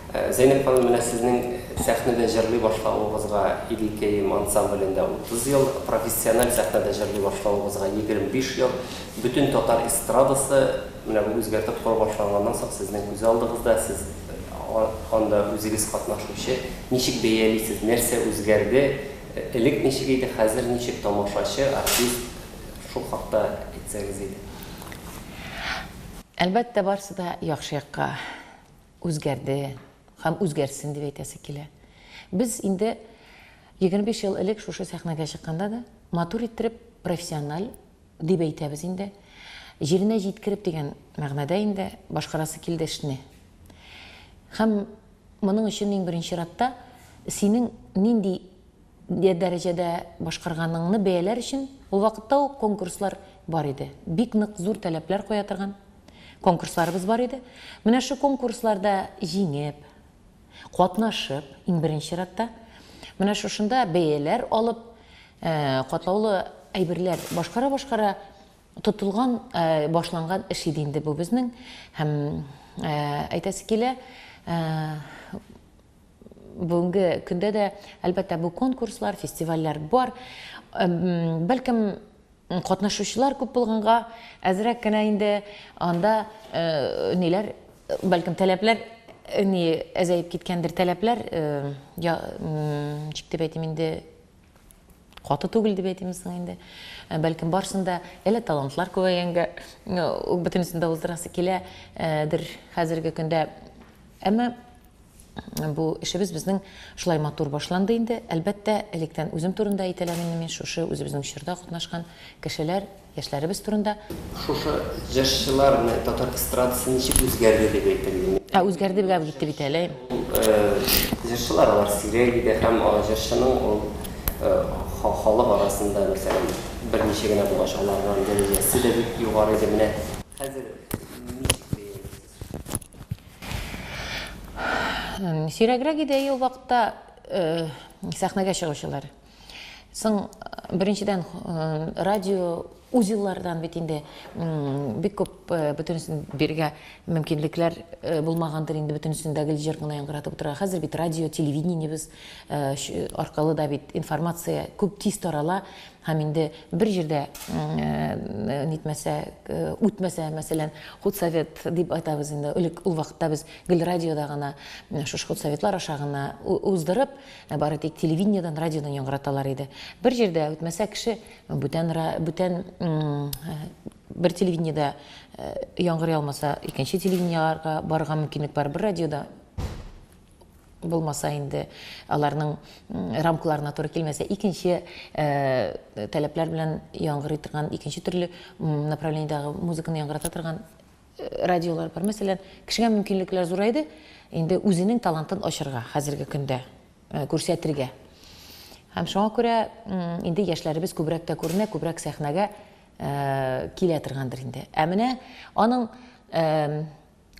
Зәйнәб ханым, менә сезнең сәхнәдә җырлый башлавыгызга Идел Керим ансамблендә 30 ел, профессиональ сәхнәдә җырлый башлавыгызга 25 ел. Бөтен татар эстрадасы менә бу үзгәртеп кору башланганнан соң сезнең күз алдыгызда, сез анда үзегез катнашучы. Ничек бәялисез, нәрсә үзгәрде, элек ничек иде, хәзер ничек, тамашачы, артист, шул хакта әйтсәгез иде. Әлбәттә, барысы да яхшы якка. Үзгәрде һәм үзгәрсен дип әйтәсе килә. Без инде егерме биш ел элек шушы сәхнәгә чыкканда да, матур иттереп, профессиональ дип әйтәбез инде, җиренә җиткереп дигән мәгънәдә инде башкарасы килде эшне. Һәм моның өчен иң беренче чиратта синең нинди Ди дәрәҗәдә башкарганыңны бәяләр өчен ул вакытта ук конкурслар бар иде. Бик нык зур таләпләр куя торган конкурсларыбыз бар иде. Менә шу конкурсларда җиңеп, катнашып, иң беренче чиратта, менә шушында бәяләр алып, катлаулы әйберләр башкара-башкара тотылган, башланган эш иде инде бу безнең. Һәм әйтәсе килә, бүгенге көндә дә, әлбәттә, бу конкурслар, фестивальләр бар. Бәлкем, катнашучылар күп булганга, әзрәк кенә инде анда э, ниләр, бәлкем, таләпләр э, ни әзәеп киткәндер таләпләр э, я ничек дип әйтим инде каты түгел дип әйтимме соң инде ә, бәлкем барсын да әле талантлар күбәйгәнгә бөтенесен дә уздырасы киләдер ә, хәзерге көндә әмма Бу эшебез безнең шулай матур башланды инде. Әлбәттә, электән үзем турында әйтәләм инде мин, шушы үзебезнең чорда катнашкан кешеләр, яшьләребез турында. Шушы җырчыларны, татар эстрадасы ничек үзгәрде дип әйтер идең? Ә үзгәрде гап китте бит әле. Җырчылар алар сирәк иде һәм җырчының ул халык арасында, мәсәлән, берничә генә булгач, аларның дәрәҗәсе дә бик югары иде. Менә хәзер ничек бәялисез? Сирәгрәк иде әйе ул вакытта э, сәхнәгә чыгучылар. Соң э, беренчедән э, радио узеллардан бит инде бик күп бөтенесен биргә мөмкинлекләр булмагандыр инде бөтенесен дә гел җыр гына яңгыратып утырырга. Хәзер бит радио, телевидениебез аркылы да бит информация күп тиз тарала. Һәм инде бер җирдә нитмәсә, үтмәсә, мәсәлән, худсовет дип айтабыз инде, элек ул вакытта без гел радиода гына, шушы худсоветлар аша гына уздырып, бары тик телевидениедән, радиодан яңгыраталар иде. Бер җирдә үтмәсә кеше, бүтән бүтән бер телевидениедә яңгырый алмаса, икенче телевидениеләргә барырга мөмкинлек бар, бер радиода. булмаса инде аларның рамкаларына туры килмәсә, икенче э, таләпләр белән яңгырый торган, икенче төрле направлениедагы музыканы яңгырата торган э, радиолар бар. Мәсәлән, кешегә мөмкинлекләр зурайды, инде үзенең талантын ачырга хәзерге көндә э, күрсәтергә. Һәм шуңа күрә инде яшьләребез күбрәк тә күренә, күбрәк сәхнәгә килә торгандыр инде. Ә менә аның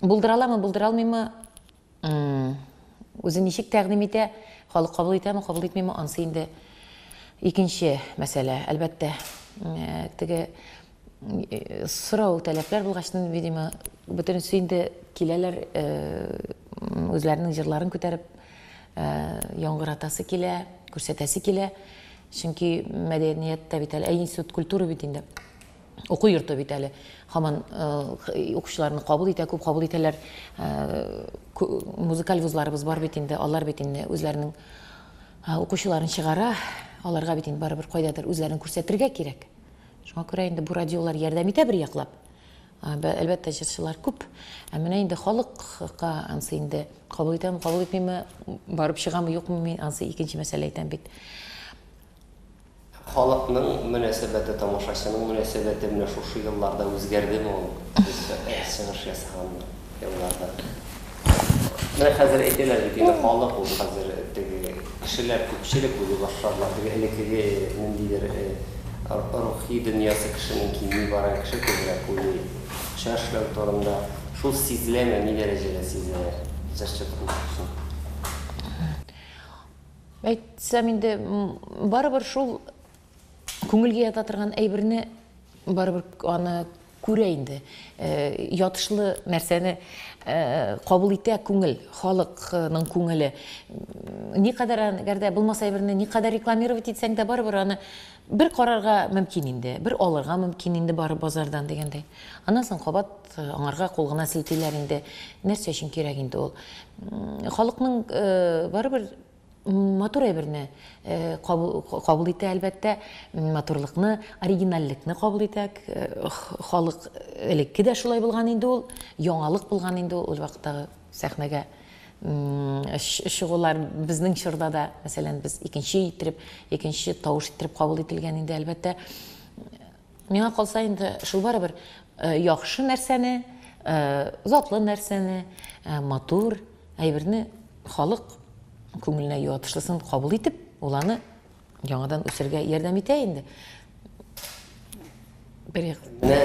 булдыра аламы, булдыра алмыймы, Үзе ничек тәкъдим итә, халык кабул итәме, кабул итмиме, ансы инде икенче мәсьәлә. Әлбәттә, теге сорау таләпләр булгач, видимо, бөтенесе инде киләләр үзләренең җырларын күтәреп яңгыратасы килә, күрсәтәсе килә. Чөнки мәдәният тә бит әле, ә институт культуры бит инде. уку йорты бит әле һаман укучыларны кабул итә, күп кабул итәләр. Музыкаль вузларыбыз бар бит инде, алар бит инде үзләренең укучыларын чыгара, аларга бит инде барыбер кайдадыр үзләрен күрсәтергә кирәк. Шуңа күрә инде бу радиолар ярдәм итә бер яклап. Әлбәттә, җырчылар күп. Ә менә инде халыкка ансы инде кабул итәме, кабул итмиме, барып чыгамы, юкмы мин ансы икенче мәсьәлә әйтәм бит. Халыкның мөнәсәбәте, тамашачының мөнәсәбәте менә шушы елларда үзгәрдеме ул? Без чыгыш ясаган елларда. Менә хәзер әйтәләр бит инде халык ул хәзер теге кешеләр күпчелек үзе башкарыла. Теге элеккеге ниндидер рухи дөньясы кешенең кими бара, кеше күбрәк уйлый. Чыр эшләү турында шул сизеләме, ни дәрәҗәдә сизелә? Җырчы турында соң. Әйтсәм инде, барыбер шул күңелгә ята торган әйберне барыбер аны күрә инде. Э, ятышлы нәрсәне э, кабул итә күңел, халыкның күңеле. Никадәр әгәр дә булмаса әйберне никадәр рекламировать итсәң дә барыбер аны бер карарга мөмкин инде, бер алырга мөмкин инде бары базардан дигәндәй. Аннан соң кабат Аңарга кул гына селтиләр инде. Нәрсә өчен кирәк инде ул? Халыкның барыбер матур әйберне кабул итә, әлбәттә, матурлыкны, оригинальлекне кабул итә. Халык элекке дә шулай булган инде ул, яңалык булган инде ул вакыттагы сәхнәгә чыгулар. Безнең чорда да, мәсәлән, без икенче иттереп, икенче тавыш иттереп кабул ителгән инде, әлбәттә. Миңа калса инде шул барыбер яхшы нәрсәне, затлы нәрсәне, матур әйберне халык күңеленә юатышлысын кабул итеп, ул аны яңадан үсергә ярдәм итә инде. Бер як. Менә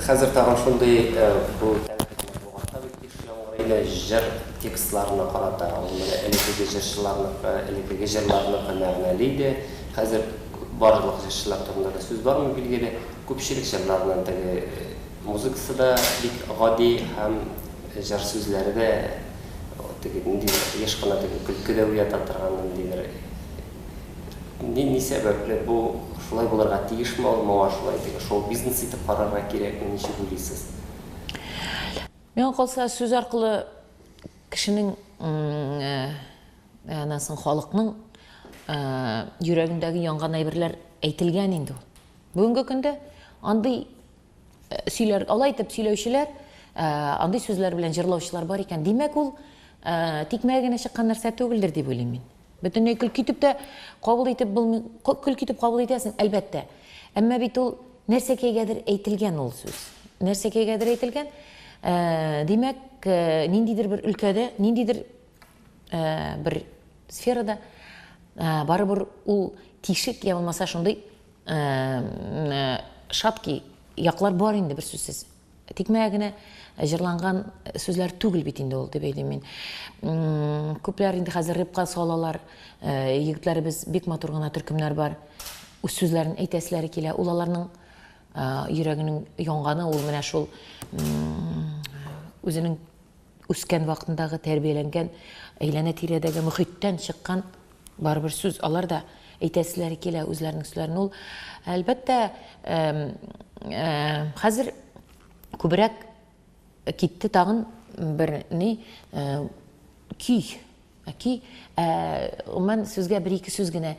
хәзер тагын шундый бу Яу Гәрәйне җыр текстларына карата, ул менә элекеге җырчыларныкы, элекеге җырларныкы мәгънәле иде. Хәзер барлык җырчылар турында да сүз бармый, билгеле. Күпчелек җырларының теге музыкасы да бик гади һәм җыр сүзләре дә теге ниндидер еш кына теге көлке дә уята торган ниндидер Ни ни сәбәпле бу шулай булырга тиешме ул, моңа шулай теге шоу-бизнес итеп карарга кирәкме, ничек уйлыйсыз? Миңа калса, сүз аркылы кешенең анасын халыкның йөрәгендәге янган әйберләр әйтелгән инде ул. Бүгенге көндә андый сөйләр, алай итеп сөйләүчеләр, андый сүзләр белән җырлаучылар бар икән. Димәк, ул тикмәгә генә чыккан нәрсә түгелдер дип уйлыйм мин. Бөтенләй көлке итеп тә кабул итеп булмый, көлке итеп кабул итәсең, әлбәттә. Әмма бит ул нәрсәкәйгәдер әйтелгән ул сүз. Нәрсәкәйгәдер әйтелгән. Ә, димәк, ә, ниндидер бер өлкәдә, ниндидер ә, бер сферада ә, барыбер ул тишек я булмаса шундый ә, ә, шаткий яклар бар инде бер сүзсез. Тикмәгә генә җырланган сүзләр түгел бит инде ул, дип әйтим мин. Күпләр инде хәзер репка салалар. Э, егетләребез бик матур гына төркемнәр бар. Үз сүзләрен әйтәселәре килә. Ул аларның э, йөрәгенең янганы, ул менә шул үзенең үскән вакытындагы тәрбияләнгән әйләнә-тирәдәге мөхиттән чыккан барыбер сүз алар да әйтәселәре килә үзләренең сүзләрен ул әлбәттә хәзер күбрәк китте тагын бер ни көй Әки, ә, гомумән, сүзгә бер-ике сүз генә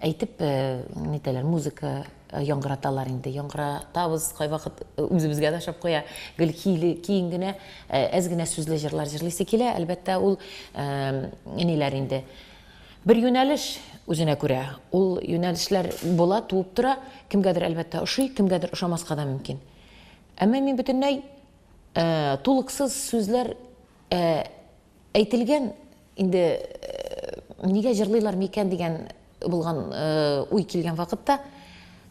әйтеп, ә, нитәләр, музыка яңгыраталар инде, яңгыратабыз, кайвакыт үзебезгә дә ошап куя, гел кийле, киң генә, ә, әз генә сүзле җырлар җырлыйсы килә, әлбәттә, ул, ә, ниләр инде, бер юнәлеш үзенә күрә, ул юнәлешләр була, туып тора, кемгәдер, әлбәттә, ошый, кемгәдер ошамаска да мөмкин. Әмма мин бөтенләй, ә, тулыксыз сүзләр, ә, Әйтелгән инде нигә җырлыйлар микән дигән булган уй килгән вакытта,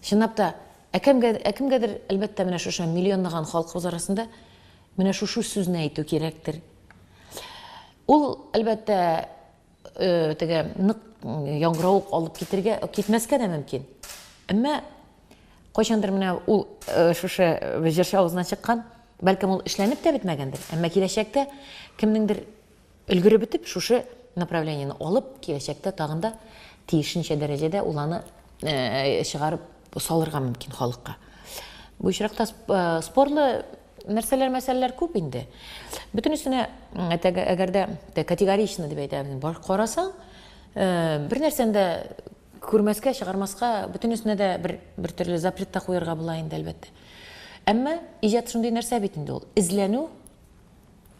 чынлап та, ә кемгә, ә кемгәдер, әлбәттә, менә шушы миллионлаган халкыбыз арасында менә шушы сүзне әйтү кирәктер. Ул, әлбәттә, теге нык яңгырау алып китергә, китмәскә дә мөмкин. Әмма Кайчандыр менә ул э, шушы э, җырчы авызына чыккан, бәлкем ул эшләнеп тә бетмәгәндер, әмма киләчәктә кемнеңдер өлгереп бетеп шушы направлениене алып, киләчәктә тагын да тиешенчә дәрәҗәдә ул аны э, чыгарып салырга мөмкин халыкка. Бу очракта спорлы нәрсәләр мәсьәләләр күп инде. Бөтенесенә әгәр дә категорично дип әйтәбез, бар карасаң, бер нәрсәндә Күрмәскә, чыгармаска, бөтенесенә дә бер, бер төрле запрет та куярга була инде, әлбәттә. Әмма иҗат шундый нәрсә бит инде ул. Эзләнү,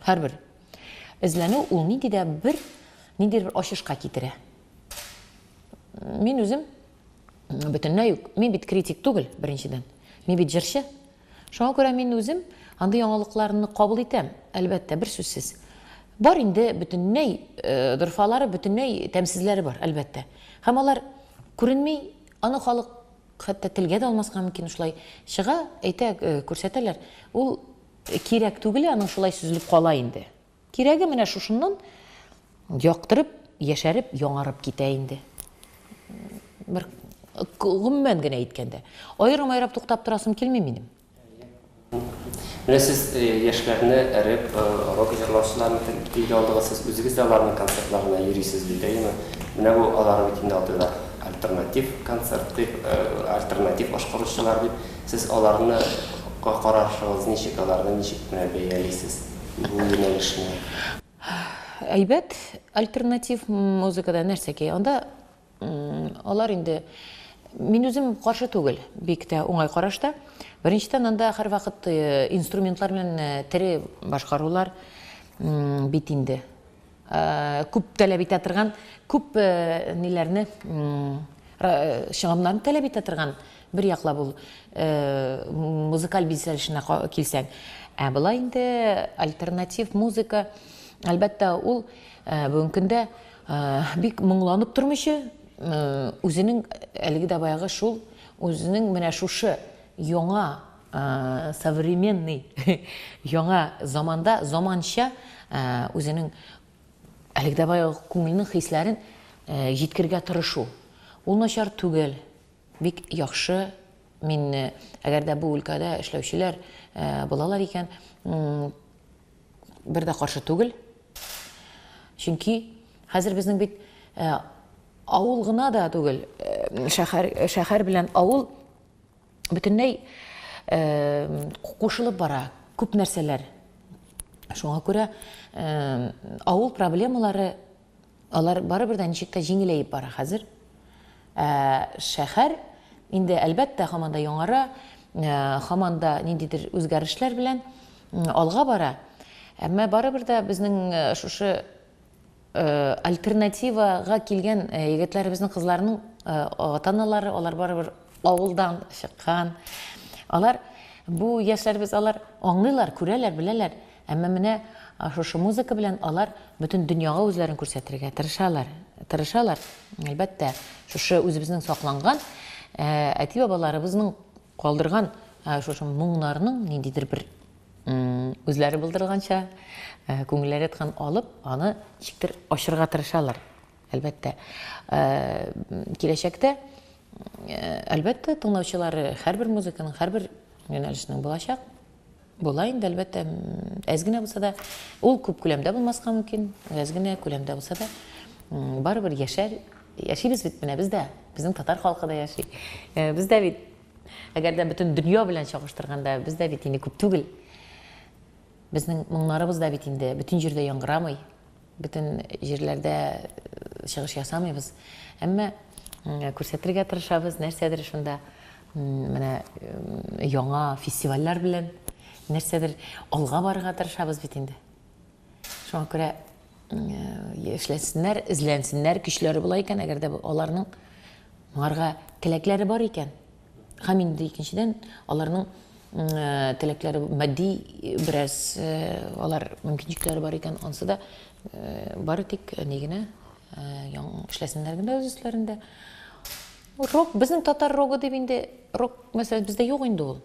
һәрбер эзләнү ул нинди дә бер, нинди бер ачышка китерә. Мин үзем бөтенләй үк, мин бит критик түгел, беренчедән. Мин бит җырчы, Шуңа күрә мин үзем андый яңалыкларны кабул итәм, әлбәттә, берсүзсез. Бар инде бөтенләй дорфалары, бөтенләй тәмсезләре бар, әлбәттә. Һәм алар күренми, аны халык хәтта телгә дә алмаска мөмкин, шулай чыга, әйтә, күрсәтәләр. Ул кирәк түгел, аның шулай сөзелеп кала инде. Кирәге менә шушыннан яктырып, яшәреп, яңарып китә инде. Бер гомумән генә әйткәндә. Аерым-аерым туктап торасым килми минем. Менә сез яшьләрне эреп, рок җырлаучыларны телгә алдыгыз, сез үзегез дә аларның концертларына йөрисез бит, әйеме? Менә бу алар бит инде алдыда альтернатив концерт дип, альтернатив ашкыручылар дип. Сез аларны карашыгыз ничек, аларны ничек менә бәялисез? бу юнәлешне? Әйбәт альтернатив музыкада нәрсәки? Анда алар инде мин үзем каршы түгел, бик тә уңай карашта. Беренчедән анда һәрвакыт э, инструментлар белән э, тере башкарулар бит инде. күп таләп итә торган, күп ниләрне, чыгымнарны таләп итә торган бер яклап ул музыкаль бизәлешенә килсәң. Ә болай инде альтернатив музыка, әлбәттә, ул бүгенге көндә бик моңланып тормыйча, үзенең әлеге дә баягы шул, үзенең менә шушы яңа современный, яңа заманда заманча үзенең әлеге дә баягы күңелнең хисләрен җиткергә тырышу. Ул начар түгел, бик яхшы. Мин, әгәр дә бу өлкәдә эшләүчеләр булалар икән, бер дә каршы түгел. Чөнки хәзер безнең бит авыл гына да түгел, шәһәр белән авыл, бөтенләй кушылып бара күп нәрсәләр. Шуңа күрә авыл проблемалары алар барыбер дә ничек тә җиңеләеп бара хәзер. Ә шәһәр инде әлбәттә һаман да яңара, һаман да ниндидер үзгәрешләр белән алга бара. Әмма барыбер дә безнең шушы Альтернативага килгән егетләребезнең, кызларның ата-аналары, алар барыбер авылдан чыккан. Алар, бу яшьләребез, алар аңлыйлар, күрәләр, беләләр. Әмма менә шушы музыка белән алар бөтен дөньяга үзләрен күрсәтергә тырышалар. Тырышалар, әлбәттә, шушы үзебезнең сакланган әти-бабаларыбызның Калдырган шушы моңнарның ниндидер бер үзләре булдырганча күңелләре яткан алып, аны ничектер ачырга тырышалар. Әлбәттә, киләчәктә, әлбәттә, тыңлаучылары һәрбер музыканың, һәрбер юнәлешнең булачак. Була инде, әлбәттә, әз генә булса да, ул күп күләмдә булмаска мөмкин, әз генә күләмдә булса да, барыбер яшәр, яшибез бит менә без дә, безнең татар халкы да яши. Э, без дә бит, әгәр дә бөтен дөнья белән чагыштырганда, без дә бит инде күп түгел. Безнең моңнарыбыз да бит инде бөтен җирдә яңгырамый. Бөтен җирләрдә чыгыш ясамыйбыз, әмма күрсәтергә тырышабыз, нәрсәдер шунда менә яңа фестивальләр белән нәрсәдер алга барырга тырышабыз бит инде. Шуңа күрә эшләсеннәр, эзләнсеннәр, көчләре була икән, әгәр дә аларның моңарга теләкләре бар икән. Һәм инде икенчедән, аларның теләкләре, матди бераз алар мөмкинчекләре бар икән, ансы да бары тик ни генә яң эшләсеннәр генә үз өсләрендә. Рок, безнең татар рогы дип инде, рок мәсьәлә бездә юк инде ул.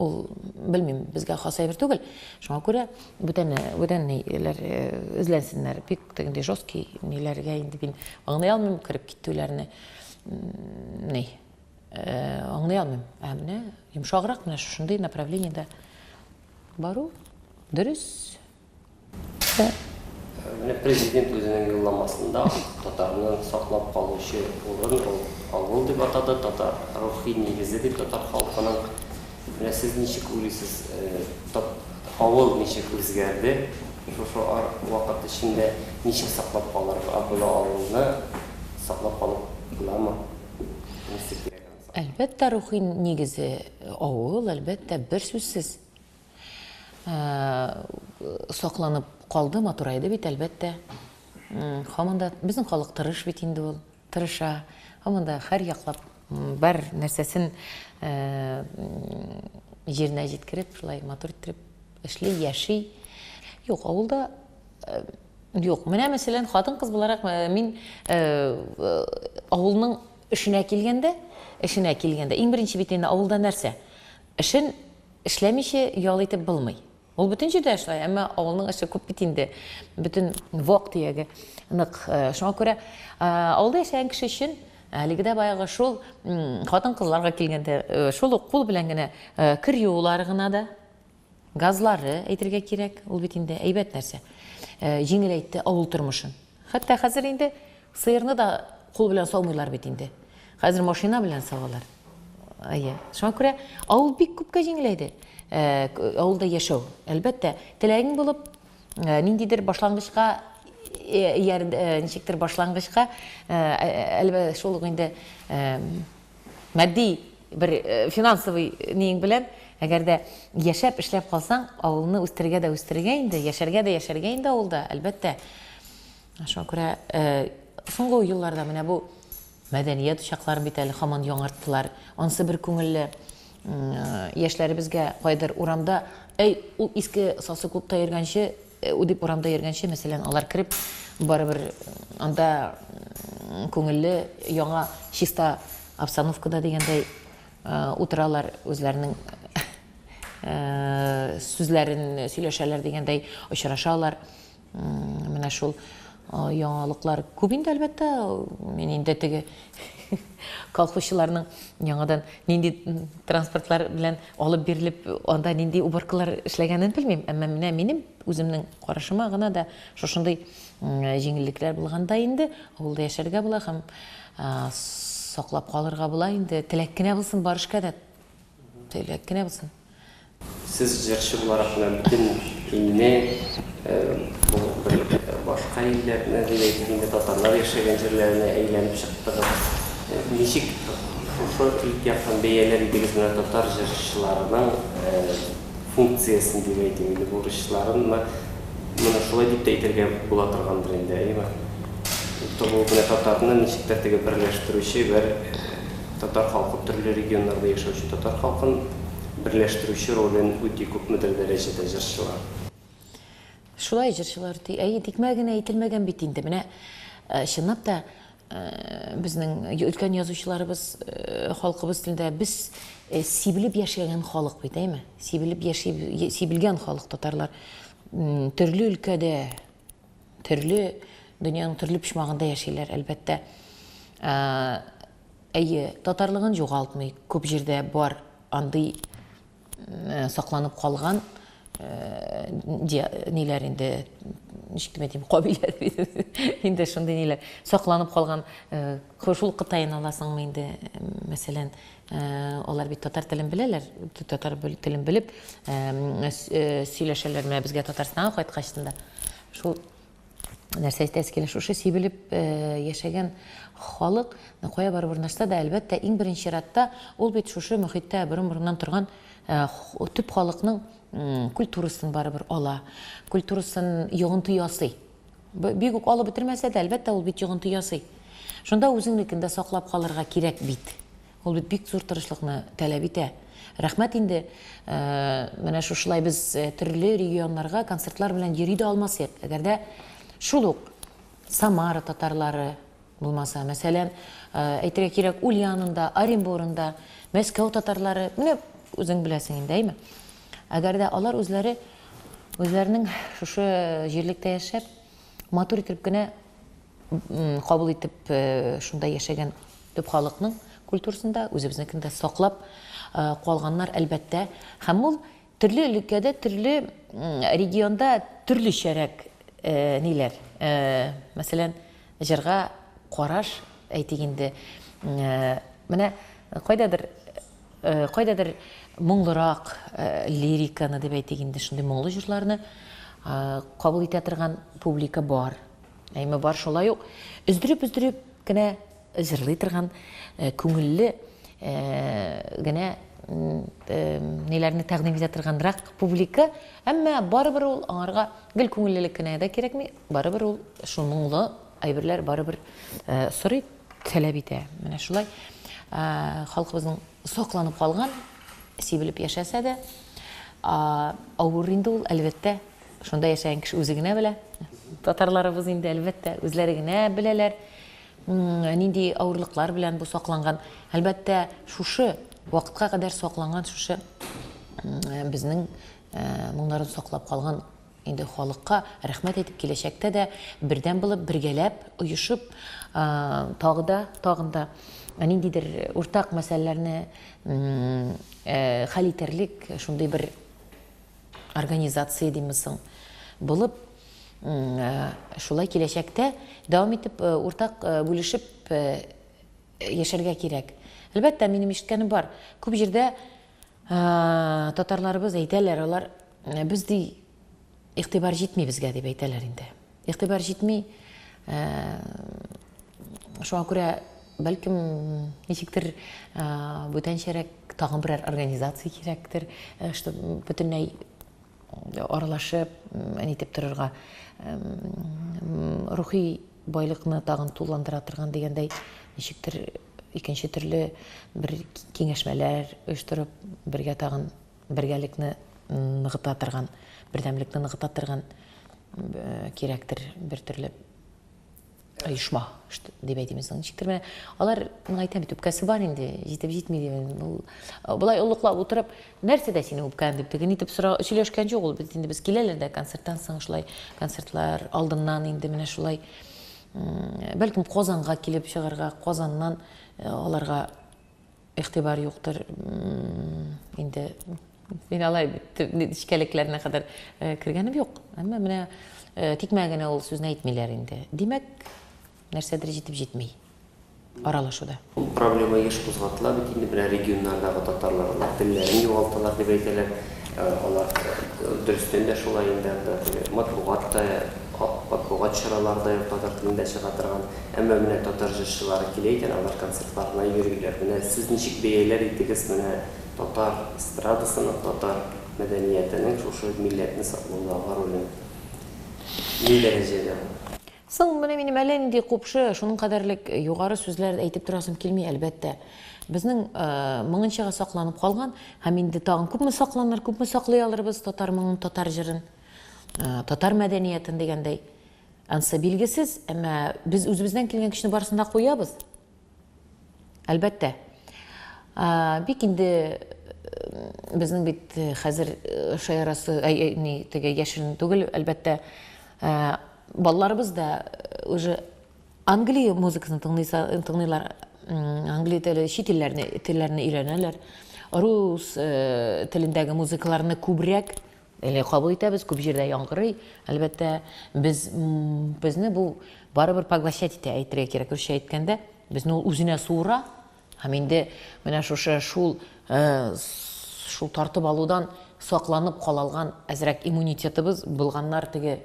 ул белмим безгә хас әйбер түгел шуңа күрә бүтән бүтәнниләр э, эзләнсеннәр бик тегендәй жесткий ниләргә инде мин аңлый алмыйм кереп китүләрне ни э, аңлый алмыйм ә менә йомшаграк менә шушындый направлениедә бару дөрес Менә президент үзенең юлламасында татарны саклап калучы урын ул авыл дип атады, татар рухи нигезе бит татар халкының. Менә сез ничек уйлыйсыз, авыл ничек үзгәрде шушы вакыт эчендә, ничек саклап калырга була авылны, саклап калып буламы? Әлбәттә, рухи нигезе авыл, әлбәттә, берсүзсез. Сакланып калды, матурайды бит, әлбәттә. Һаман да безнең халык тырыш бит инде ул, тырыша. Һаман да һәр яклап бар нәрсәсен җиренә җиткереп, шулай матур иттереп эшли, яши. Юк, авылда юк. Менә мәсәлән, хатын-кыз буларак мин авылның эшенә килгәндә, эшенә килгәндә, иң беренче бит инде авылда нәрсә? Эшен Эшләмичә ял итеп булмый. Ул бөтен җирдә дә шулай, әмма авылның эше күп бит инде, бөтен вак төяге нык. Шуңа күрә авылда яшәгән кеше өчен әлеге дә баягы шул хатын-кызларга килгәндә, шул ук кул белән генә кер юулары гына да, газлары әйтергә кирәк, ул бит инде әйбәт нәрсә, җиңеләйтте авыл тормышын. Хәтта хәзер инде сыерны да кул белән саумыйлар бит инде. Хәзер машина белән савалар. Әйе. Шуңа күрә авыл бик күпкә җиңеләйде. Э, авылда яшәү. Әлбәттә, теләгең булып, э, ниндидер башлангычка э, ничектер башлангычка әлбәттә шул инде Матди бер финансовый ниең белән, әгәр дә яшәп, эшләп калсаң, авылны үстерергә дә үстерергә инде, яшәргә дә яшәргә инде авылда, әлбәттә. Шуңа күрә соңгы елларда менә бу мәдәният учакларын бит әле хаман яңарттылар. Ансы бер күңелле яшьләребезгә кайдыр урамда, әй, ул иске сасы клубта йөргәнче, Ү дип урамда йөргәнче, мәсәлән, алар кереп, барыбер анда күңелле, яңа, чиста обстановкада дигәндәй утыралар, үзләренең сүзләрен сөйләшәләр дигәндәй очрашалар. Менә шул Яңалыклар күп инде, әлбәттә. Мин инде теге колхозчыларның яңадан нинди транспортлар белән алып бирелеп, анда нинди уборкалар эшләгәнен белмим. Әмма менә минем үземнең карашыма гына да шушындый җиңеллекләр булганда инде авылда яшәргә була һәм саклап калырга була инде. Теләк кенә булсын, бар эшкә дә теләк кенә булсын. Сез җырчы буларак менә бөтен илне, бу бер башка илләрне, дип әйтик инде, татарлар яшәгән җирләренә әйләнеп чыктыгыз. Ничек шушы ит яктан бәяләр идегез менә татар җырчыларының функциясен дип әйтим инде, бурычларынмы? Моны шулай дип тә әйтергә була торгандыр инде, әйеме? Туу менә татарны ничек тә теге берләштерүче бер Татар халкы төрле регионнарда яшәүче татар халкын берләштерүче ролен үти күпмедер дәрәҗәдә җырчылар. Шулай җырчылар үти. Әйе, тикмә генә әйтелмәгән бит инде. Менә чынлап та безнең өлкән язучыларыбыз халкыбыз телендә без сибелеп яшәгән халык бит, әйме? Сибелеп яши, сибелгән халык татарлар. Төрле өлкәдә, төрле дөньяның төрле почмагында яшиләр, әлбәттә. Әйе, татарлыгын югалтмый, күп җирдә бар андый сакланып калган ниләр инде, ничек дип әйтим, кабилә инде шундый ниләр сакланып калган. Шул Кытайны аласыңмы инде, мәсәлән, алар бит татар телен беләләр, татар телен белеп сөйләшәләр, менә безгә Татарстанга кайткач шул Нәрсә әйтәсе килә, шушы сибелеп яшәгән халык кая барып урнашса да, әлбәттә, иң беренче чиратта ул бит шушы мөхиттә борын-борыннан торган төп халыкның культурасын барыбер ала, культурасын йогынты ясый. Бик үк алып бетермәсә дә, әлбәттә, ул бит йогынты ясый. Шунда үзеңнекен дә саклап калырга кирәк бит. Ул бит бик зур тырышлыкны таләп итә. Рәхмәт инде, менә шушылай без төрле регионнарга концертлар белән йөри дә алмас идек, әгәр дә шул ук Самара татарлары булмаса, мәсәлән, әйтергә кирәк, Ульянында, Оренбурында, Мәскәү татарлары, менә үзең беләсең инде, әйме? Әгәр дә алар үзләре үзләренең шушы җирлектә яшәп, матур итеп кенә кабул итеп шунда яшәгән төп халыкның культурасын да, үзебезнекен дә саклап калганнар, әлбәттә. Һәм ул төрле өлкәдә, төрле регионда төрлечәрәк ниләр. Мәсәлән, җырга караш, әйтик инде, менә кайдадыр кайдадыр моңлырак лириканы дип әйтик инде, шундый моңлы җырларны кабул итә торган публика бар. Әйме бар шулай ук өздереп-өздереп кенә җырлый торган күңелле генә ниләрне тәкъдим итә торганрак публика, әмма барыбер ул аңарга гел күңеллелек кенә дә кирәкми, барыбер ул шул моңлы әйберләр барыбер сорый, таләп итә. Менә шулай халкыбызның Сакланып калган, сибелеп яшәсә дә, авыр инде ул, әлбәттә. Шунда яшәгән кеше үзе генә белә. Татарларыбыз инде, әлбәттә, үзләре генә беләләр, нинди авырлыклар белән бу сакланган. Әлбәттә, шушы вакытка кадәр сакланган шушы безнең моңнарын саклап калган Инде халыкка рәхмәт әйтеп киләчәктә дә бердәм булып, бергәләп, оешып, тагы да, тагын да ниндидер уртак мәсьәләләрне хәл итәрлек шундый бер организация диме соң, булып, шулай киләчәктә дәвам итеп, уртак бүлешеп яшәргә кирәк. Әлбәттә, минем ишеткәнем бар, күп җирдә татарларыбыз әйтәләр, алар, Ә без ди игътибар җитми безгә дип әйтәләр инде. Игътибар җитми. Ә, шуңа күрә бәлкем ничектер ә, бүтәнчәрәк тагын берәр организация кирәктер, ә, что бөтенләй аралашып, әнитеп торырга рухи байлыкны тагын тулыландыра торган дигәндәй ничектер икенче төрле бер киңәшмәләр оештырып, бергә тагын Бергәлекне ныгыта торган, бердәмлекне ныгыта торган кирәктер бер төрле оешма дип әйтимез ничектер менә алар миңа әйтә бит үпкәсе бар инде җитеп җитми дип ул болай олыклап утырып нәрсәдә синең үпкәң дип тегене итеп сора сөйләшкән җук ул бит инде без киләләр дә концерттан соң шулай концертлар алдыннан инде менә шулай бәлкем казанга килеп чыгарга казаннан аларга игътибар юктыр инде мин алай нечкәлекләренә кадәр э, кергәнем юк әмма менә э, тикмә генә ул сүзне әйтмиләр инде димәк нәрсәдер җитеп җитми аралашуда ул проблема еш кузгатыла бит инде менә регионнардагы татарлар телләрен югалталар дип әйтәләр Алар дөрестән дә шулай инде, анда теге матбугат та, матбугат чаралары да юк татар телендә чыга торган. Әмма менә татар җырчылары килә икән, алар концертларына йөриләр. Менә сез ничек бәяләр идегез менә татар эстрадасының, татар мәдәниятенең шушы милләтне саклаудагы ролен? Ни дәрәҗәдә ул? Соң менә минем әллә нинди купшы, шуның кадәрлек югары сүзләр әйтеп торасым килми, әлбәттә. Безнең моңынчага сакланып калган, һәм инде тагын күпме сакланыр, күпме саклый алырбыз татар моңын, татар җырын, татар мәдәниятен дигәндәй. Ансы билгесез, әмма без үзебездән килгән көчне барысын да куябыз. Әлбәттә. Бик инде безнең бит хәзер шаярасы, ни, теге яшерен түгел, әлбәттә, балаларыбыз да уже Англия музыкасын тыңлыйлар, Англия теле, чит телләрне өйрәнәләр. Рус телендәге музыкаларны күбрәк Әйе, кабул итәбез, күп җирдә яңгырый. Әлбәттә, без, безне бу барыбер поглощать итә, әйтергә кирәк, русча әйткәндә, безне ул үзенә суыра. Һәм инде менә шушы шул, э, шул тартып алудан сакланып кала алган әзрәк иммунитетыбыз булганнар, теге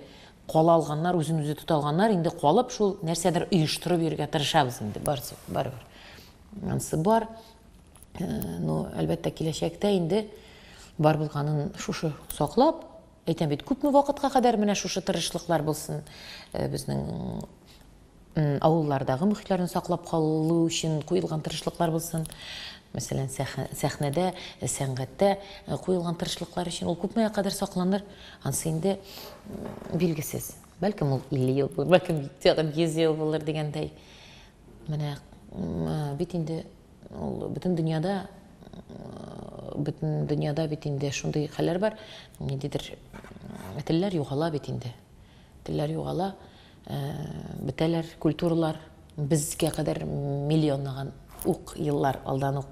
кала алганнар, үзен үзе тота алганнар, инде калып шул нәрсәдер оештырып йөрергә тырышабыз инде, барсы, барыбер. Ансы бар. ну, әлбәттә, киләчәктә инде бар булганын шушы саклап, әйтәм бит, күпме вакытка кадәр менә шушы тырышлыклар булсын безнең авыллардагы мөхитләрне саклап калу өчен куелган тырышлыклар булсын. Мәсәлән, сәхнәдә, сәнгатьтә куелган тырышлыклар өчен ул күпмегә кадәр сакланыр, ансы инде билгесез. Бәлкем ул 50 ел булыр, бәлкем тагын 100 ел булыр дигәндәй. Менә бит инде Ул бөтен дөньяда бөтен дөньяда бит инде шундый хәлләр бар, ниндидер телләр югала бит инде. Телләр югала, э, бетәләр, культуралар безгә кадәр миллионлаган ук еллар алдан ук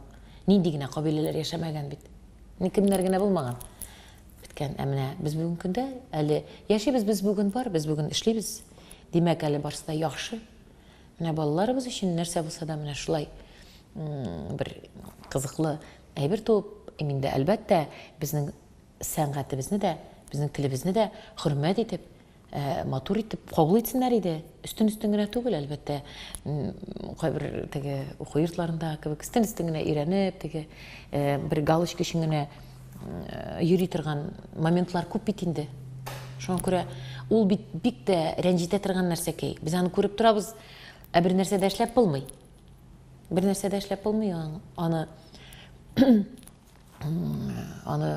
нинди генә кабиләләр яшәмәгән бит. Ни кемнәр генә булмаган. Беткән. Ә менә без бүген көндә әле яшибез, без бүген бар, без бүген эшлибез. Димәк, әле барсы да яхшы. Менә балаларыбыз өчен нәрсә булса да менә шулай бер кызыклы әйбер туып иминде. Әлбәттә, безнең сәнгатебезне дә, безнең телебезне дә хөрмәт итеп, Э, матур итеп кабул итсеннәр иде өстен өстен генә түгел әлбәттә кайбер теге уку йортларында кебек өстен өстен генә өйрәнеп теге э, бер галочка өчен генә йөри торган моментлар күп бит инде. Шуңа күрә ул бит бик тә рәнҗетә торган нәрсәкәй. Без аны күреп торабыз, ә бер нәрсә дә эшләп булмый. Бер нәрсә дә эшләп булмый аны аны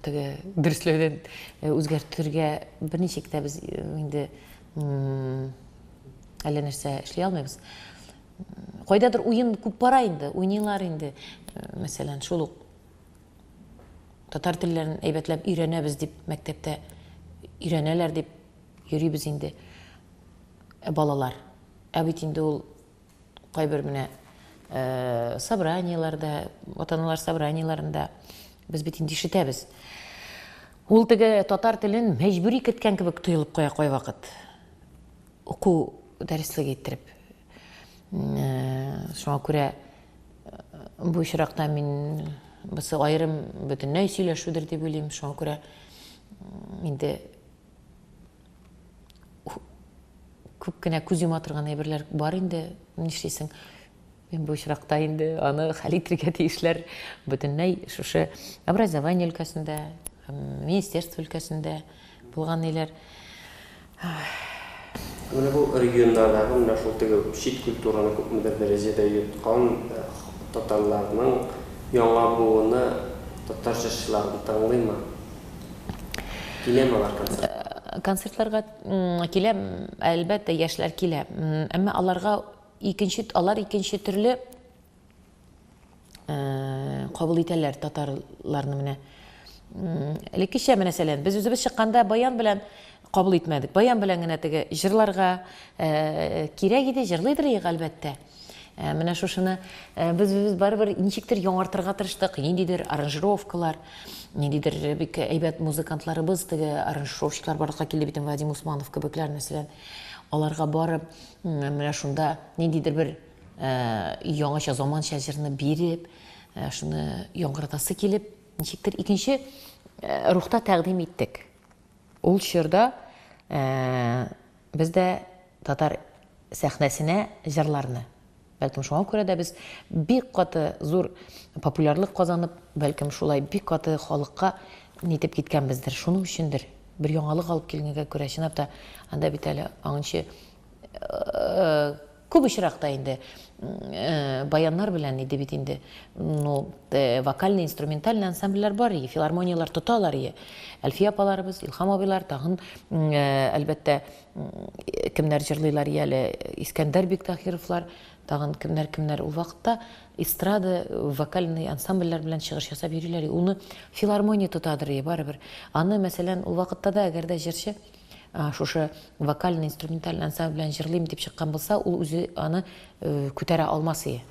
теге дөрсләүдән э, үзгәртергә берничек тә без э, инде әллә нәрсә эшли алмыйбыз кайдадыр уен күп бара инде уйныйлар инде э, мәсәлән шул ук Татар телләрен әйбәтләп өйрәнәбез дип мәктәптә өйрәнәләр дип йөрибез инде. Ә балалар, ә бит инде ул кайбер менә э, собраниеләрдә, ата-аналар собраниеләрендә без бит инде ишетәбез. Ул теге татар телен мәҗбүри киткән кебек тоелып куя кайвакыт. Уку дәреслеге иттереп. Э, шуңа күрә Бу очракта мин бусы аерым бөтенләй сөйләшүдер дип уйлыйм. Шуңа күрә инде күп кенә күз йома торган әйберләр бар инде, нишлисең. Мин бу очракта инде аны хәл итергә тиешләр бөтенләй шушы образование өлкәсендә, министерство өлкәсендә Булган ниләр. Менә бу регионнардагы менә шул теге чит культураны күпмедер дәрәҗәдә йоткан татарларның яңа буыны татар җырчыларын тыңлыймы? Киләме алар концертка? Концертларга килә, әлбәттә, яшьләр килә. Әмма аларга икенче, алар икенче төрле кабул итәләр татарларны менә. Элеккечә мәсәлән, без үзебез чыкканда баян белән кабул итмәдек. Баян белән генә теге җырларга кирәк иде, җырлыйдыр ик, әлбәттә. Менә шушыны без үзебез барыбер ничектер яңартырга тырыштык, ниндидер аранжировкалар, ниндидер бик әйбәт музыкантларыбыз, теге аранжировщиклар барлыкка килде бит, Вадим Усманов кебекләр мәсәлән. Аларга барып, менә шунда ниндидер бер Яңача заманча җырны биреп, шуны яңгыратасы килеп, ничектер икенче рухта тәкъдим иттек. Ул чорда без дә татар сәхнәсенә җырларны. Бәлкем шуңа күрә дә без бик каты зур популярлык казанып, бәлкем шулай бик каты халыкка нитеп киткәнбездер, шуның өчендер, бер яңалык алып килгәнгә күрә, чынлап та, анда бит әле аңынчы Күп очракта инде баяннар белән иде бит инде. Ну, вокальный, инструментальный ансамбльләр бар иде, филармонияләр тоталар иде. Әлфия апаларыбыз, Илхам абыйлар, тагын, әлбәттә, кемнәр җырлыйлар иде әле, Искәндәр Биктахировлар, тагын кемнәр, кемнәр. Ул вакытта эстрада, вокальный ансамбльләр белән чыгыш ясап йөриләр иде. Уны филармония тотадыр иде, барыбер. Аны, мәсәлән, ул вакытта да, әгәр дә җырчы, шушы вокальный инструментальный ансамбль белән җырлыйм дип чыккан булса, ул үзе аны күтәрә алмас ие.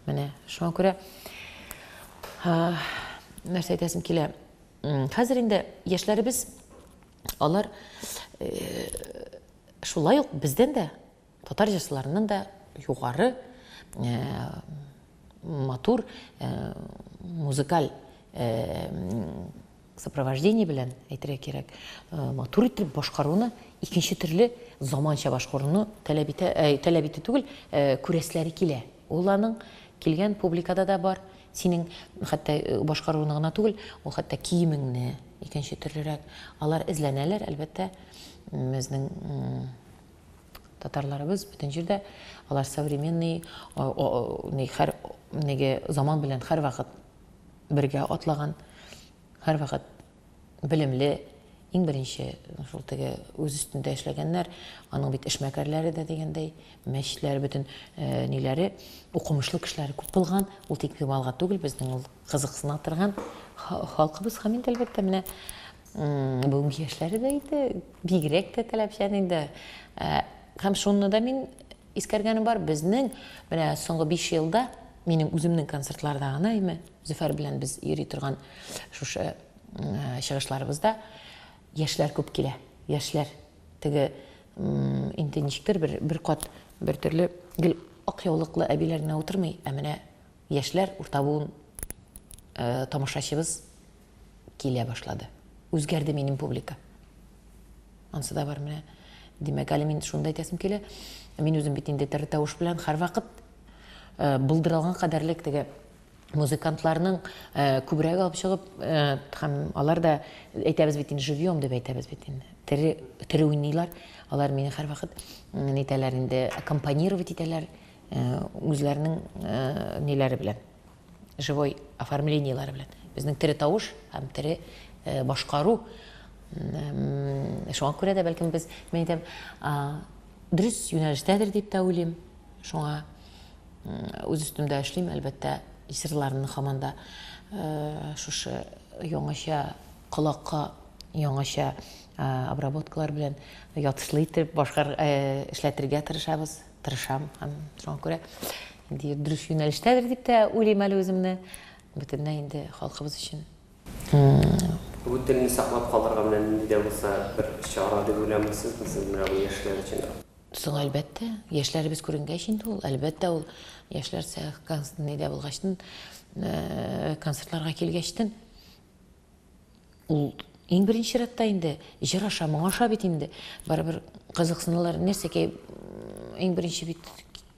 Менә шуңа күрә нәрсә әйтәсем килә. Хәзер инде яшьләребез алар шулай ук бездән дә Татар җырчыларыннан да югары матур музыкаль сопровождение белән әйтергә кирәк, матур итеп башкаруны икенче төрле заманча башкаруны таләп итә, таләп итә түгел, күрәсләре килә. Ул аның килгән публикада да бар. Синең хәтта башкаруны гына түгел, ул хәтта киемеңне икенче төрлерәк. Алар эзләнәләр, әлбәттә, безнең Татарларыбыз бөтен җирдә алар современный ни хәр неге заман белән һәрвакыт бергә атлаган, һәрвакыт белемле, иң беренче шул теге үз өстендә эшләгәннәр, аның бит эшмәкәрләре дә дигәндәй, мәчләр бөтен э, ниләре укымышлы кешеләр күп булган, ул тик малга түгел, безнең ул кызыксына торган халкыбыз һәм инде әлбәттә менә Бүгенге яшьләре дә инде бигрәк тә таләпчән инде. Һәм шуны да мин искәргәнем бар, безнең менә соңгы 5 елда минем үземнең концертларда гына име, Зөфәр белән без йөри торган шушы чыгышларыбызда яшьләр күп килә. Яшьләр теге инде ничектер бер бер кат бер төрле гел ак яулыклы әбиләр генә утырмый, ә менә яшьләр урта буын тамашачыбыз килә башлады. Үзгәрде минем публика. Ансы да бар менә. Димәк, әле мин шуны да әйтәсем килә. Мин үзем бит инде тере тавыш белән һәрвакыт э, булдырылган кадәрлек теге музыкантларның э, күбрәк алып чыгып э, һәм алар да әйтәбез бит инде живьем дип әйтәбез бит инде тере тере уйныйлар алар мине һәрвакыт ни итәләр инде аккомпанировать итәләр үзләренең ниләре белән живой оформлениеләре белән. Безнең тере тавыш һәм тере э, башкару. Шуңа күрә дә бәлкем без, мин әйтәм, дөрес юнәлештәдер дип тә уйлыйм. Шуңа үз өстемдә эшлим, әлбәттә, исерларны һаман да э, шушы яңача колакка яңача э, обработкалар белән ятышлы итеп башкар эшләтергә тырышабыз. Тырышам һәм шуңа күрә инде дөрес юнәлештәдер дип тә уйлыйм әле үземне. Бөтенләй инде халкыбыз өчен. Бу телне саклап калырга менә нинди дә булса бер чара дип уйланмыйсыз сез менә бу яшьләр өчен? Соң әлбәттә, яшьләребез күренгәч инде ул, әлбәттә ул яшьләр сәхкән нидә булгачтын, концертларга килгәчтен Ул иң беренче рәттә инде җыр аша, моң аша бит инде. Барыбер кызыксыналар, нәрсәгә иң беренче бит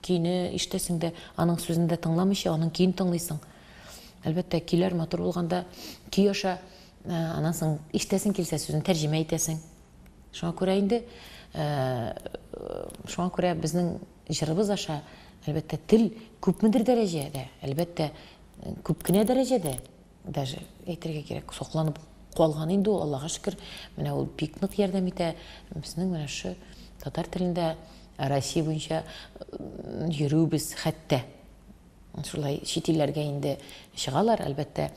көйне ишетәсең дә, аның сүзен дә тыңламыйча, аның көен тыңлыйсың. Әлбәттә, көйләр матур булганда көй аша, э, аннан соң ишетәсең килсә сүзен тәрҗемә итәсең. Шуңа күрә инде, э, шуңа күрә безнең җырыбыз аша, әлбәттә, тел күпмедер дәрәҗәдә, әлбәттә, күп кенә дәрәҗәдә даже әйтергә кирәк сокланып калган инде ул аллага шөкер менә ул бик нык ярдәм итә безнең менә шу татар телендә россия буенча йөрүбез хәтта шулай чит илләргә инде чыгалар әлбәттә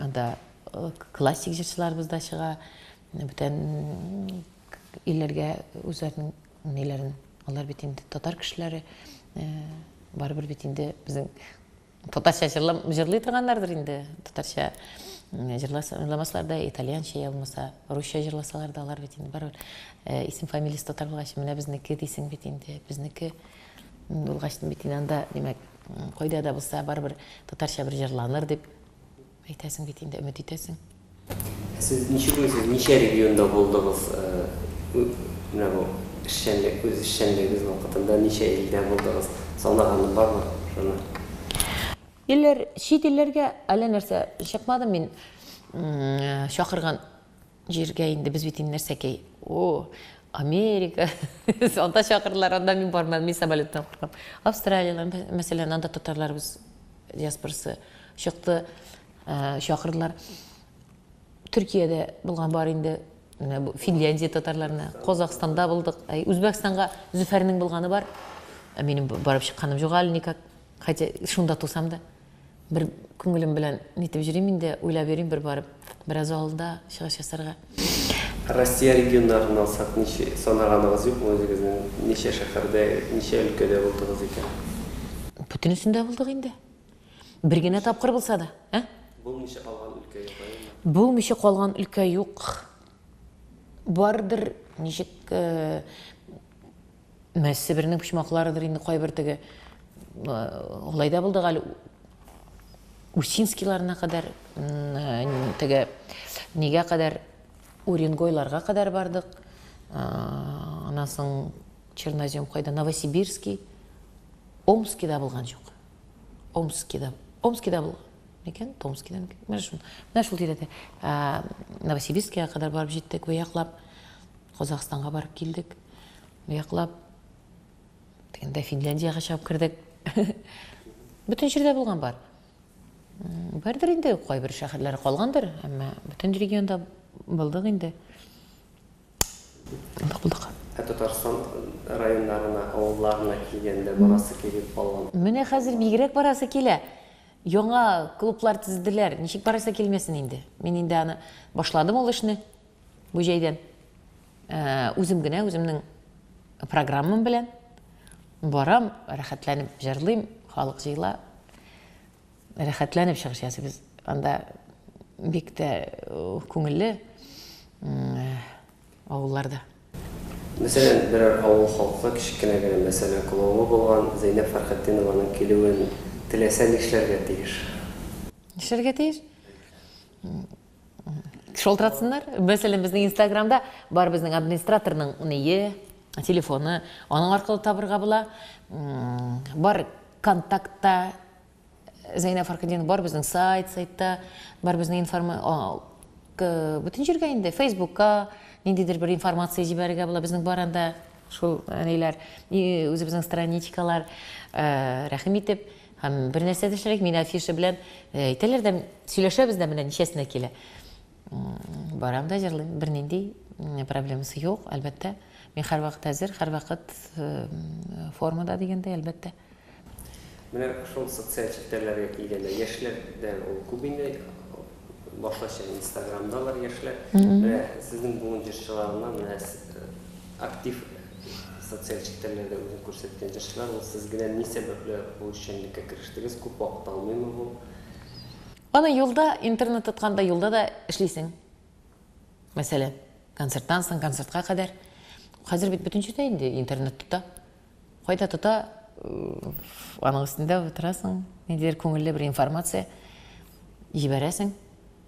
анда э, классик җырчыларыбыз да чыга бүтән илләргә үзләренең ниләрен алар бит инде татар кешеләре э, барыбер бит инде безнең Татарча җырлам, җырлый торганнардыр инде. Татарча м, җырласа- җырламаслар да, итальянча я булмаса русча җырласалар да, алар бит инде барыбер э, исем фамилиясе татар булгач, менә безнеке дисең бит инде. Безнеке м, булгач бит инде анда, димәк, м, кайда да булса барыбер татарча бер җырланыр дип Әйтәсең бит инде, өмет итәсең. Ә сез ничек уйлыйсыз, ничә регионда булдыгыз? Менә бу эшчәнлек, үз эшчәнлегегез вакытында ничә илдә булдыгыз? Санаганы бармы шуны? Илләр, чит илләргә әллә нәрсә чыкмадым мин. Чакырган Җиргә инде без бит инде нәрсә кей О, Америка, анда чакырдылар, анда мин бармадым, мин самолеттан куркам. Австралиялән, мәсәлән, анда татарларыбыз диаспорасы чыкты, э, чакырдылар. Төркиядә булган бар инде, менә бу Финляндия татарларына, Казахстанда булдык. Әй, Үзбәкстанга Зөфәрнең булганы бар. Ә минем барып чыкканым юк әле никак. Хотя шунда тусам да. Бер күңелем белән нитеп йөрим инде, уйлап йөрим бер барып, бераз алда чыгыш ясарга. Россия регионнарын алсак, ничә, санаганыгыз юкмы үзегезнең, ничә шәһәрдә, ничә өлкәдә булдыгыз икән? Бөтенесендә булдык инде. Бер генә тапкыр булса да, ә? Булмыйча калган өлкә юк, әйеме? Булмыйча калган өлкә юк. Бардыр, ничек, Менә Себернең почмакларыдыр инде кайбер теге алай да булдык әле Усинскийларына кадәр теге нигә кадәр Уренгойларга кадәр бардык. Аннан соң Чернозем кайда Новосибирский, Омскида булган чук. Омскида. Омскида булган. Микән? Томскида микән? Менә шул. Менә шул тирәдә. Новосибирскига кадәр барып җиттек бу яклап. Казахстанга барып килдек. Бу яклап дигәндә Финляндиягә чыгып кердек. Бөтен җирдә булган бар. Бардыр инде, кайбер шәһәрләр калгандыр, әмма бөтен регионда булдык инде. Булдык, булдык. Ә Татарстан районнарына, авылларына килгәндә барасы килеп калган? Менә хәзер бигрәк барасы килә. Яңа клублар төзеделәр, ничек барасы килмәсен инде. Мин инде аны башладым ул эшне. Бу җәйдән үзем генә үземнең программам белән барам, рәхәтләнеп җырлыйм, халык җыела. Рәхәтләнеп чыгыш ясыйбыз. Анда бик тә күңелле авылларда. Мәсәлән, берәр авыл халкы кечкенә генә мәсьәлә клоуны булган Зәйнәб Фәрхетдинованың килүен теләсә нишләргә тиеш? Нишләргә тиеш? Шалтыратсыннар. Мәсәлән, безнең Инстаграмда бар безнең администраторның ние, телефоны, аның аркылы табырга була. Бар контактта Зәйнә Фаркадин бар безнең сайт, сайтта бар безнең информа бөтен җиргә инде Фейсбукка ниндидер бер информация җибәрергә була безнең бар анда шул ниләр үзебезнең страничкалар рәхим итеп Һәм бер нәрсә дә эшләдек, мин афиша белән э, әйтәләр дә, сөйләшәбез дә менә ничәсенә килә. Барам да җырлыйм, бернинди проблемасы юк, әлбәттә. Мин һәрвакыт әзер, һәрвакыт э, формада дигәндәй, әлбәттә. Менә шул социаль челтәрләргә килгәндә, яшьләрдә ул күп инде Башлыча инстаграмдалар яшьләр. Менә сезнең буын җырчыларыннан менә актив социаль челтәрләрдә үзен күрсәткән җырчылар ул. Сез генә ни сәбәпле бу эшчәнлеккә керештегез? Күп вакыт алмыймы бу? Аны юлда, интернет тотканда юлда да эшлисең. Мәсәлән, концерттан соң, концертка кадәр. Хәзер бит бөтен җирдә инде интернет тота. Кайда тота, аның өстендә утырасың, ниндидер күңелле бер информация җибәрәсең.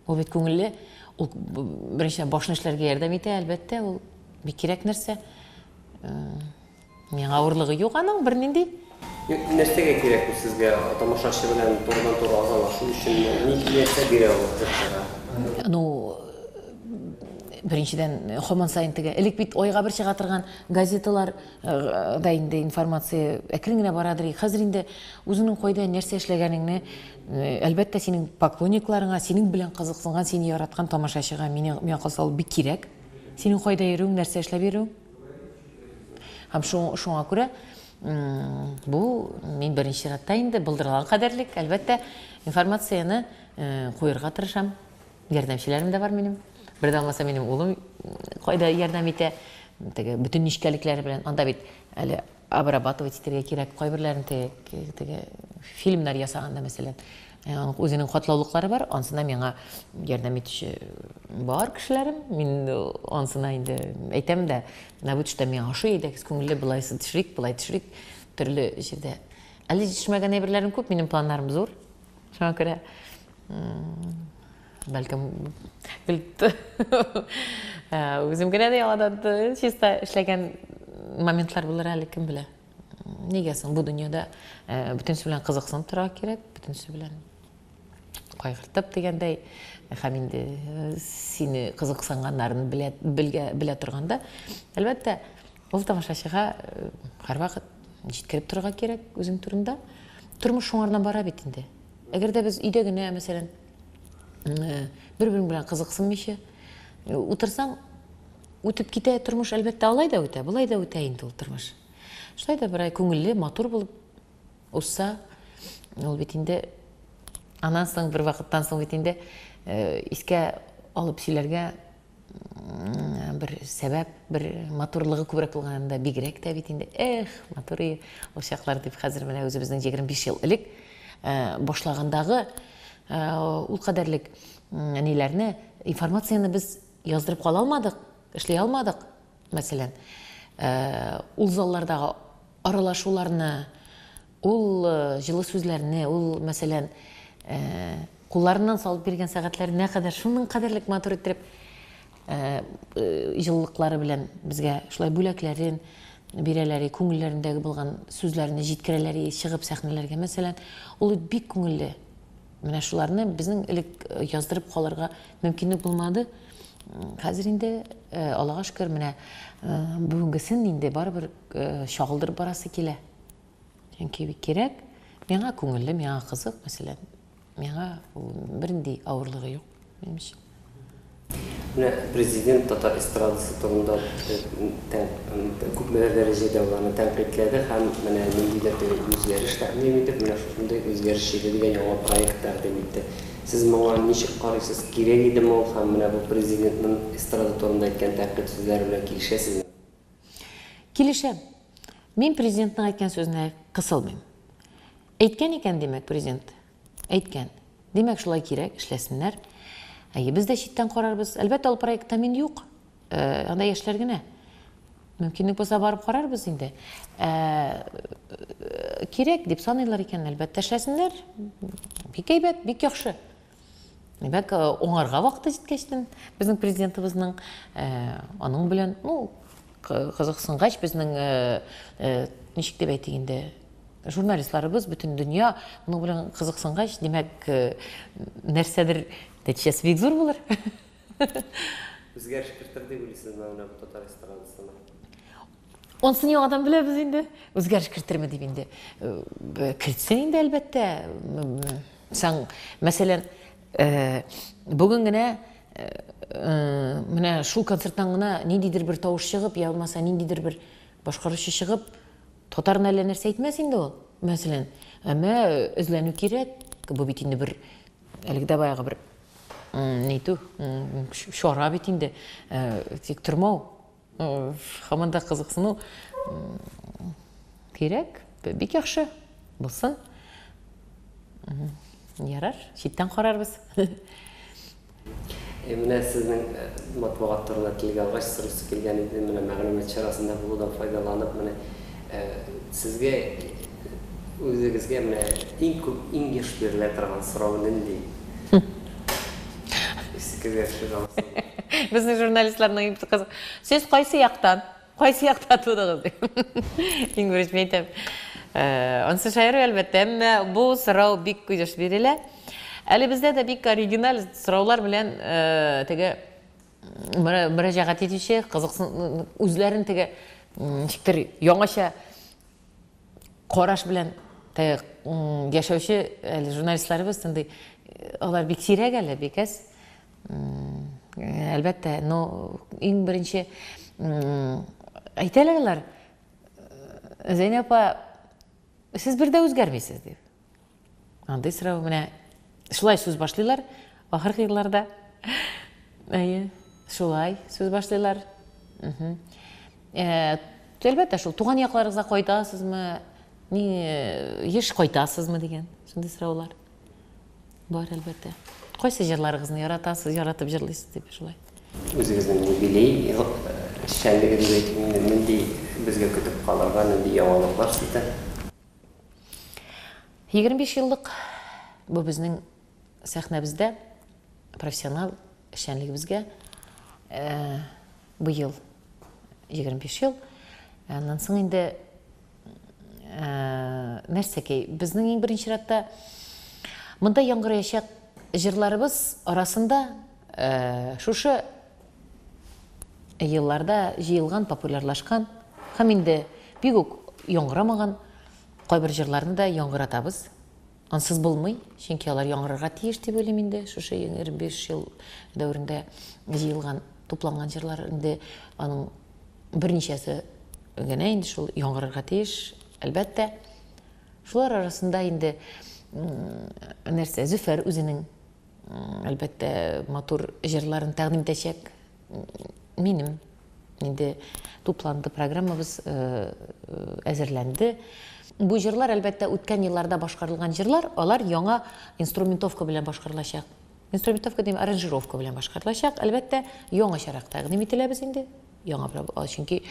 Ул бит күңелле, ул беренче башны эшләргә ярдәм итә, әлбәттә, ул бик кирәк нәрсә. Миңа авырлыгы юк аның бернинди. Нәрсәгә кирәк ул сезгә? Тамашачы белән турыдан-туры аралашу өчен ни нәрсә бирә ул җырчыга? Ну, беренчедән, хаман сайын теге, элек бит айга бер чыга торган газеталар да инде информация әкрен генә барадыр. Хәзер инде үзеңнең кайда нәрсә эшләгәнеңне, әлбәттә, синең поклонникларыңа, синең белән кызыксынган, сине яраткан тамашачыга мине миңа калса ул бик кирәк. Синең кайда йөрүең, нәрсә эшләп йөрүең. Һәм шуңа күрә бу мин беренче чиратта инде былдырган кадәрлек, әлбәттә, информацияне куерга тырышам. Ярдәмчеләрем дә бар минем. Бер дә булмаса минем улым кайда ярдәм итә. Теге бөтен нечкәлекләре белән. Анда бит әле обрабатывать итәргә кирәк. Кайберләрен теге теге фильмнар ясаганда мәсәлән, э, үзенең катлаулыклары бар. Ансына миңа ярдәм итүче бар кешеләрем. Мин э, ансына инде әйтәм дә, менә бу төштә миңа ошый иде, күңелле булайсы төшерик, булай төшерик, төрле җирдә. Әле җитешмәгән әйберләрем күп, минем планнарым зур. Шуңа күрә бәлкем көлт үзем генә дә яңадан чиста эшләгән моментлар булыр әле кем белә нигә соң бу дөньяда бөтенесе белән кызыксынып торырга кирәк бөтенесе белән кайгыртып дигәндәй һәм инде сине кызыксынганнарын белә, белгә, белә торганда әлбәттә ул тамашачыга һәрвакыт җиткереп торырга кирәк үзең турында тормыш шуңардан бара бит инде Әгәр дә без өйдә генә, мәсәлән, бер-берең белән кызыксынмыйча утырсаң, үтеп китә тормыш, әлбәттә, алай да үтә, болай да үтә инде ул тормыш. Шулай да бер ай күңелле, матур булып узса, ул бит инде аннан соң бер вакыттан соң бит инде искә алып сөйләргә бер сәбәп, бер матурлыгы күбрәк булган анда бигрәк тә бит инде. Эх, матур и ул чаклар дип хәзер менә үзебезнең 25 ел элек э, башлагандагы э, ул кадәрлек ниләрне, информацияне без яздырып кала алмадык, эшли алмадык. Мәсәлән, э, ул заллардагы аралашуларны, Ул җылы сүзләрне, ул, мәсәлән, кулларыннан салып биргән сәгатьләренә кадәр шуның кадәрлек матур иттереп җылылыклары белән безгә шулай бүләкләрен бирәләр, күңелләрендәге булган сүзләрне җиткерәләр, чыгып сәхнәләргә, мәсәлән. Ул бит бик күңелле. Менә шуларны безнең элек яздырып калырга мөмкинлек булмады. Хәзер инде, Аллага шөкер, менә бүгенгесен инде барыбер чагылдырып барасы килә. Чөнки бик кирәк, миңа күңелле, миңа кызык, мәсәлән, миңа бернинди авырлыгы юк минем өчен. Менә президент татар эстрадасы турында күпмедер дәрәҗәдә аларны тәнкыйтьләде һәм менә ниндидер теге үзгәреш тәкъдим итеп, менә шушындый үзгәреш җиде дигән яңа проект тәкъдим итте. Сез моңа ничек карыйсыз? Кирәк идеме ул һәм менә бу президентның эстрада турында әйткән тәнкыйть сүзләре белән килешәсезме? Килешәм. Мин президентның әйткән сүзенә кысылмыйм. Әйткән икән, димәк, президент. Әйткән. Димәк, шулай кирәк, эшләсеннәр. Әйе, без дә читтән карарбыз. Әлбәттә, ул проектта мин юк. Э, анда яшьләр генә. Мөмкинлек булса барып карарбыз инде. Э, кирәк дип саныйлар икән, әлбәттә, эшләсеннәр. Бик әйбәт, бик яхшы. Димәк, уңарга вакыты җиткәч тен безнең президентыбызның аның белән, ну, кызыксынгач безнең ничек дип әйтик инде, журналистларыбыз бөтен дөнья моның белән кызыксынгач, димәк, нәрсәдер нәтиҗәсе бик зур булыр. Үзгәреш кертер дип уйлыйсызмы менә бу татар эстрадасына? Ансын яңадан беләбез инде. Үзгәреш кертерме дип инде. Э, кертсен инде әлбәттә. Саң, мәсәлән, э, бүген генә э, менә шул концерттан гына ниндидер бер тавыш чыгып, я булмаса ниндидер бер башкаручы чыгып, татарны әллә нәрсә әйтмәс инде ул, мәсәлән. Әмма эзләнү кирәк. Бу бит инде бер әлеге дә баягы бер нитү, чара бит инде. Тик тормау Хаманда да кызыксыну кирәк. Бик яхшы. Булсын. Ярар, читтән карарбыз. Э, менә сезнең э, матбугат турында телгә алгач сорысы килгән иде менә мәгълүмат чарасында булудан файдаланып менә э, сезгә үзегезгә менә иң күп иң еш бирелә торган сорау нинди Иске вершы галасы. Безнең журналистларның иң кыз. Сез кайсы яктан? Кайсы якта тудыгыз? Иң беренче мин әйтәм. Э, Ансы шаяру әлбәттә, әмма бу сорау бик кыйдыш бирелә. Әле бездә дә бик оригиналь сораулар белән э, теге мөрәҗәгать итүче, кызыксын үзләрен теге ничектер яңача Караш белән таяк яшәүче әле журналистларыбыз шундый, алар бик сирәк әле, бик әз. Әлбәттә, но иң беренче әйтәләр алар, Зәйнәп апа, сез бер дә үзгәрмисез, дип. Андый сорау менә шулай сүз башлыйлар ахыргы елларда. Әйе, шулай сүз башлыйлар. Э, әлбәттә шул туган якларыгызга кайтасызмы, ни э, еш кайтасызмы дигән шундый сораулар бар әлбәттә. Кайсы җырларыгызны яратасыз, яратып җырлыйсыз дип шулай. Үзегезнең юбилей э, эшчәнлегендә нинди безгә көтеп калырга, нинди яңалыклар сездә? 25 еллык бу безнең сәхнәбездә профессионал эшчәнлегебезгә э, быел 25 ел. Аннан соң инде э, нәрсәкәй, безнең иң беренче чиратта монда яңгыраячак җырларыбыз арасында э, шушы елларда җыелган, популярлашкан һәм инде бик үк яңгырамаган кайбер җырларны да яңгыратабыз. Ансыз булмый, чөнки алар яңгырарга тиеш дип уйлыйм инде. Шушы 25 ел дәверендә җыелган, тупланган җырлар инде аның берничәсе генә инде шул яңгырарга тиеш, әлбәттә. Шулар арасында инде нәрсә, Зөфәр үзенең әлбәттә, матур җырларын тәкъдим итәчәк. Минем инде тупланды программабыз э, э, әзерләнде. Бу җырлар, әлбәттә, үткән елларда башкарылган җырлар, алар яңа инструментовка белән башкарылачак. Инструментовка дим, аранжировка белән башкарылачак. Әлбәттә, яңачарак тәкъдим ителәбез инде. Яңа проблема, чөнки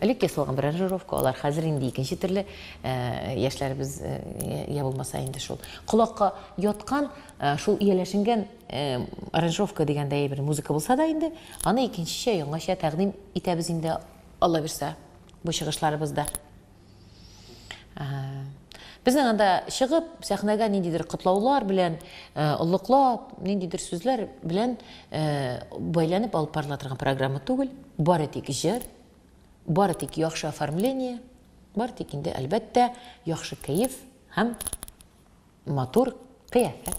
элек ясалган бер аранжировка, алар хәзер инде икенче төрле э, яшьләребез э, я булмаса инде шул. Колакка яткан, э, шул ияләшенгән аранжировка дигәндәй бер музыка булса да инде, аны икенчечә, яңача тәкъдим итәбез инде, Алла бирсә, бу чыгышларыбызда. Безнең анда чыгып, сәхнәгә ниндидер котлаулар белән, э, олыклап, ниндидер сүзләр белән э, бәйләнеп алып барыла торган программа түгел. Бары тик җыр, бары тик яхшы оформление, бары тик инде, әлбәттә, яхшы кәеф һәм матур кыяфәт.